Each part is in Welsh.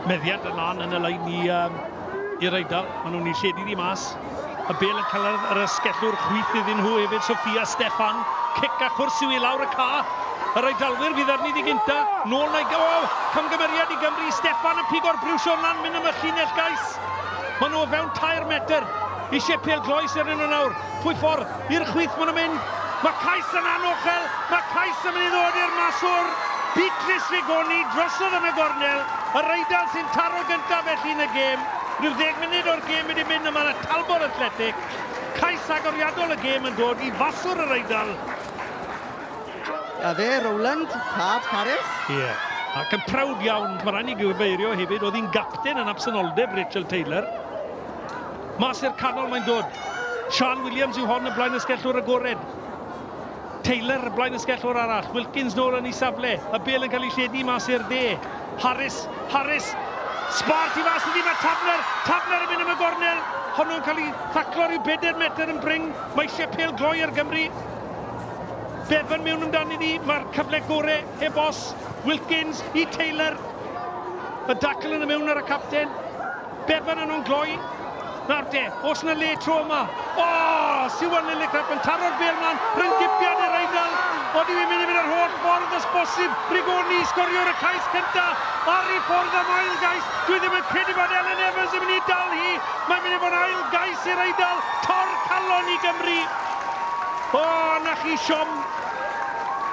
Meddiant yn lan yn y lein i um, i'r Eidal. Maen nhw'n ei lledu ddi mas. Y bel yn cael yr ysgellwr chwyth iddyn nhw hefyd, Sofia Stefan. Cic a chwrs yw i lawr y ca. Yr Eidalwyr fydd arni ddi gynta. Nôl na i gael. Camgymeriad i Gymru. Stefan yn pigo'r briwsio lan, mynd am y llinell gais. Maen nhw o fewn tair metr. Eisiau pel gloes ar un o nawr. Pwy ffordd? I'r chwith maen nhw'n mynd. Mae cais yn anochel. Mae cais yn mynd i ddod i'r maswr. Beatrice Rigoni drosodd yn y gornel. Yr Eidal sy'n taro gyntaf felly yn y gêm. Rhyw ddeg munud o'r gêm wedi mynd a mae yna talbot athletic. Cais agoriadol y gêm yn dod i faswr yr Eidal. A fe, Rowland, tad Harris. Ie. Yeah. Ac yn prowd iawn, mae rhaid ni gyfeirio hefyd, oedd hi'n gapten yn absenoldeb Rachel Taylor. Mas i'r canol mae'n dod. Siân Williams yw hon y blaen ysgellwr agored. Taylor y blaen ysgellwr arall. Wilkins nôl yn ei safle. Y bel yn cael ei lledu mas i'r dde. Harris, Harris, Sbart i fas ydi, mae Tafner, Tafner yn mynd am y gornel. Honno'n cael ei thaclo rhyw bedair metr yn bring. Mae eisiau pel gloi ar Gymru. Bevan mewn amdani ni, mae'r cyfle gore heb os. Wilkins i Taylor. Y dacl yn y mewn ar y capten. Bevan yn o'n gloi. Nawr de, os yna le tro yma. O, oh, Siwan Lillicrap yn taro'r bel mlaen, rhyw'n gipiad i'r Eidal. Ond i'n mynd i fynd yr holl ffordd os bosib. Rigoni sgorio'r y cais cynta. Ar i ffordd am ail gais. Dwi ddim yn credu bod Ellen Evans yn mynd i dal hi. Mae'n mynd i fod ail gais i'r Eidal. Tor calon i Gymru. O, oh, na chi siom.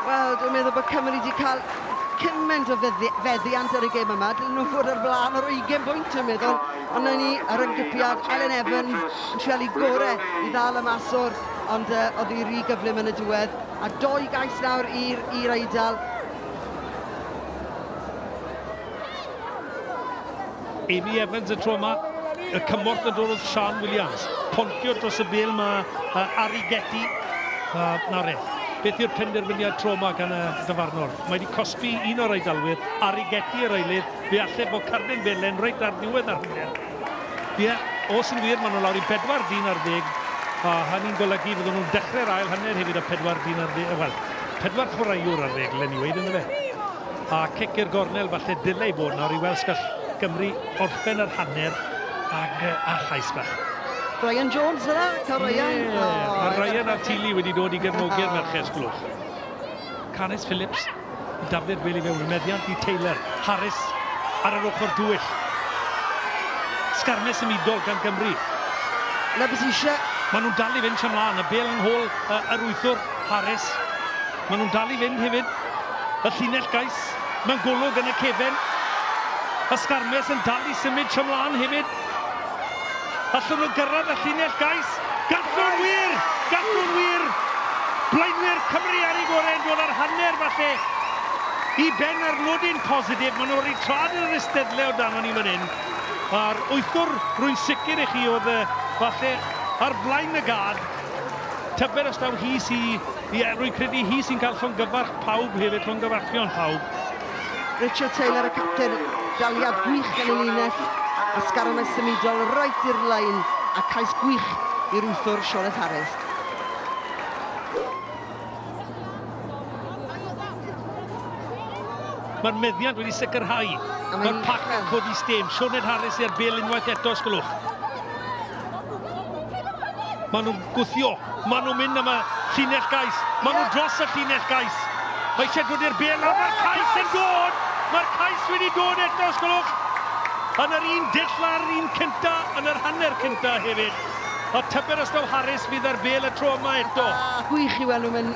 Wel, dwi'n meddwl bod Cymru wedi cael cyment o feddi- feddiant ar y gêm yma. Dylen nhw fod ar flaen ar 20 bwynt yn meddwl. Ond na ni ar ymgypiad Elen Evans yn treul i gore i ddal y mas o'r ond uh, oedd hi rhy gyflym yn y diwedd. A doi gais nawr i'r Eidal. Amy Evans y tro yma, y cymorth yn dod wrth Sian Williams. Pontio dros y bel mae uh, Ari Getty. Uh, na re, beth yw'r penderfyniad tro yma gan y dyfarnwr? Mae wedi cosbi un o'r aidalwyr, Ari Getty yr eilydd, fe allai bod Carden Belen reit ar ddiwedd ar hynny. Ie, yeah, os yn wir, maen nhw lawr i bedwar dyn ar ddeg, a hynny'n golygu fydden nhw'n dechrau'r ail hanner hefyd o pedwar dyn ar ddeg, wel, pedwar chwaraewr ar ddeg, Lenny Wade, ynddo fe. A cic i'r gornel, falle dylai fod nawr i weld os gall Gymru orffen yr hanner ag a chais bach. Ryan Jones yna, cael Ryan. Ie, oh, mae Ryan a'r Tili wedi dod i gefnogi'r oh. merched sglwch. Canys Phillips, Dafydd Weli fe wrmeddiant i Taylor. Harris ar yr ochr dwyll. Sgarmes symudol gan Gymru. Na beth eisiau. Maen nhw'n dal i fynd siam lan, y bel yng nghôl uh, yr wythwr Harris. Maen nhw'n dal i fynd hefyd. Y llinell gais mewn golwg yn y cefn. Y sgarmes yn dal i symud tro mlaen hefyd. Allwn nhw gyrraedd y llinell gais? Gallwn wir! Gallwn wir! Blaenwyr Cymru ar ei gorau yn dod â'r hanner falle i ben ar nodyn positif. Maen nhw wedi traed yr eisteddle o danon ni fan hyn. A'r wythwr, rwy'n sicr i chi, oedd falle ar flaen y gad. Tybed os daw hi sy Ie, rwy'n credu hi sy'n cael llongyfarch pawb hefyd, llongyfarchion pawb. Richard Taylor, y capten, daliad gwych gan ei linell, a sgaronnau symudol roet i'r lein, a cais gwych i'r wythwr Sioned Harris. Mae'r meddiant wedi sicrhau. Mae'r pac yn codi stêm. Sioned Harris i'r bel unwaith eto, os gwelwch. Maen nhw'n gwthio, maen nhw'n mynd am y llinell gais, maen nhw dros y llinell gais. Mae eisiau dod i'r bel, mae'r cais yn dod! Mae'r cais wedi dod eto, os gwelwch. Yn yr un dull a'r un cynta, yn yr hanner cynta hefyd. A tyber os daw Harris fydd ar bel y tro yma eto. Gwych i weld nhw, mae'n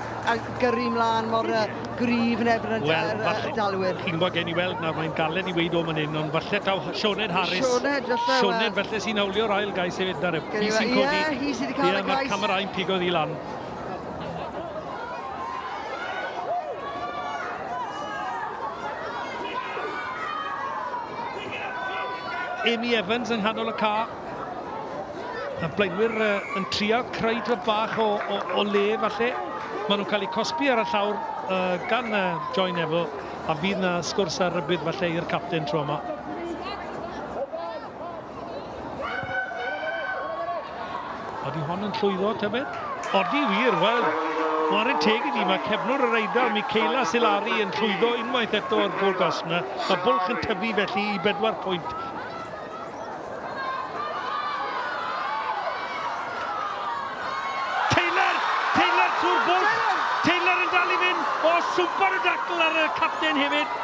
gyrru mlaen mor yy gryf yn erbyn y d- Wel, yr, falle- yy, dalwyr. Chi'n gwybod, gen i weld nawr, mae'n galed i weud o man hyn, ond falle taw H- Sioned Harris... Sioned, falle, wel. Sioned, falle sy'n hawlio'r ail gais hefyd, na ref. Gen i Hi sy'n we- ie, codi. hi sy 'di cael y Ie, mae'r cais. camerâu'n pigo ddi lan. Amy Evans yng nghanol y car. A blaenwyr uh, yn trial creu dro bach o, o, o le falle. Maen nhw'n cael eu cosbi ar y llawr uh, gan uh, Joy Neville a fydd na sgwrs ar rybydd falle i'r capten tro yma. Odi hon yn llwyddo, tybed? Odi wir, wel, Warren teg i ni, mae cefnwr yr Eidal, Michaela Silari, yn llwyddo unwaith eto o'r gol gasna. Mae bwlch yn tyfu felly i bedwar pwynt. Taylor! Taylor trwy'r bwlch! Taylor yn dal i fynd! O, swper o dacl ar y capten hefyd!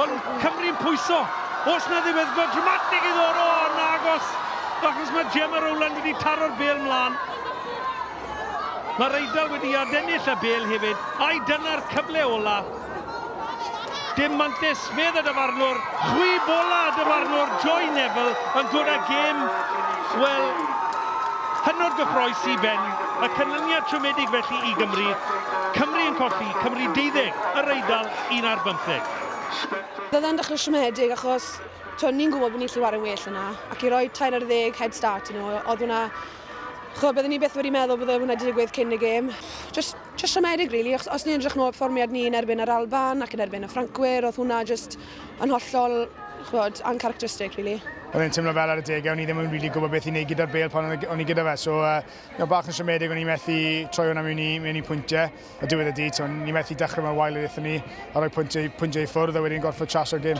Ond Cymru'n pwyso! Os na ddiweddglo dramatig i ddod o yn agos! Achos mae Gemma Rowland wedi taro'r bel mlaen. Mae'r Eidal wedi adennill y bel hefyd, ai dyna'r cyfle ola? Dim mantis, medd y dyfarnwr. Chwi bola y dyfarnwr Joy Neville yn dod â gêm, wel, hynod gyffroes i ben. Y canlyniad siomedig felly i Gymru. Cymru yn colli, Cymru deuddeg, yr Eidal un ar bymtheg. Roedd e'n dechrau siomedig achos tibod, ni'n gwybod bod ni'n gallu chwarae'n well yna ac i roi tair ar ddeg head start i nhw, oedd hwnna... chibod, bydden ni byth wedi meddwl bydde hwnna wedi digwydd cyn y gêm. Jyst Jyst siomedig rili, achos os ni'n edrych nôl perfformiad ni yn erbyn yr Alban ac yn erbyn y Ffrancwyr, oedd hwnna jyst yn hollol, chwod, uncharacteristic rili. Oedd e'n teimlo fel ar y degau, o'n i ddim yn rili gwybod beth i wneud gyda'r bel pan o'n i gyda fe, so uh, no, bach yn siomedig, o'n i methu troi hwnna mewn i, mewn i pwyntiau, a diwedd y di, so, ni methu dechrau mewn wael oedd ni, a rhoi pwyntiau, pwyntiau i ffwrdd, a wedyn gorfod tras o'r gym.